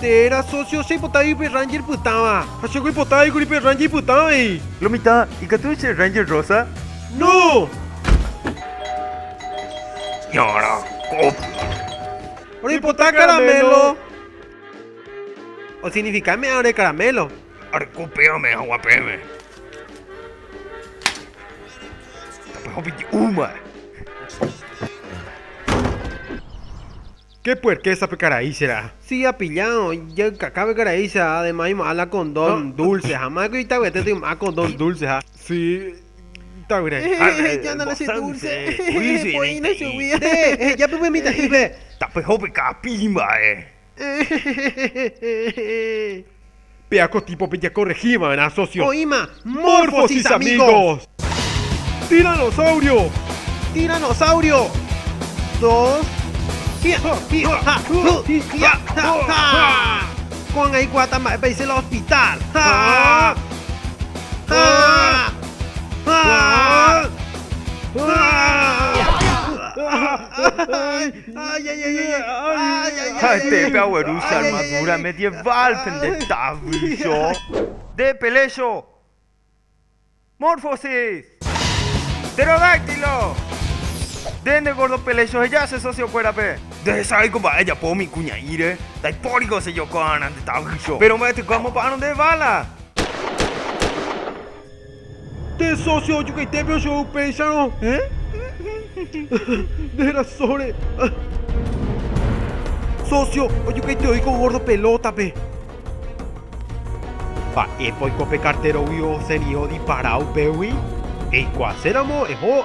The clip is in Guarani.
Térã sócio che ipotái upe Ranger pytãva. Ha che oipotái kuri pe Ranger ipytã avei. Lo mitã, ikatúi che Ranger rosa. No! Ñara, copia. Roipota caramelo. Osignifica me'ã ore caramelo. Areko pe ame hagua peve. Tape hopity'u mba'e. Ke puerke sape karai che ra'a. Si apilla jaykakápe karai che ra'a además yma'ã la condón dulce ha ma'ẽko itavyete toym'ã condón dulce ha. Si itavyrai Ehehe ejánale che dulce ehehe poína chugui ehehe eheja pype mitã'ípe. Tapyhópe ka'api imba'e. Ehehehehehehe. Péa ko típope jakorrehi va'erã sósio. Oĩma Morphosis Amigos. Tiranosaurio. Tiranosaurio. Dos. Hia, hi, ha, hu, hi, hia, ha, ha. Ko'ág̃a aikuaáta mba'épa he'ise la hospital. Ha, ha, ha, ha. Ha'ete pe agueru che armadura medieval pende tavycho. De pelecho. Morphosis. Pterodáctilo. Nde nde gordo pelecho heja che socio kuérape. Ndahecháviko mba'e ejapo umi kuña'íre, ndaipóriko che jokoarã nde tavycho. Péro mba'etekue amopa'ãrõ nde vála. Nde sósio ojukaite pe chou péicharõ, nde rasóre. Sósio ojukaite oiko górdo pelótape. Mba'épa oiko pe kartérogui osẽri odipara upégui? Eikuaaséramo eho.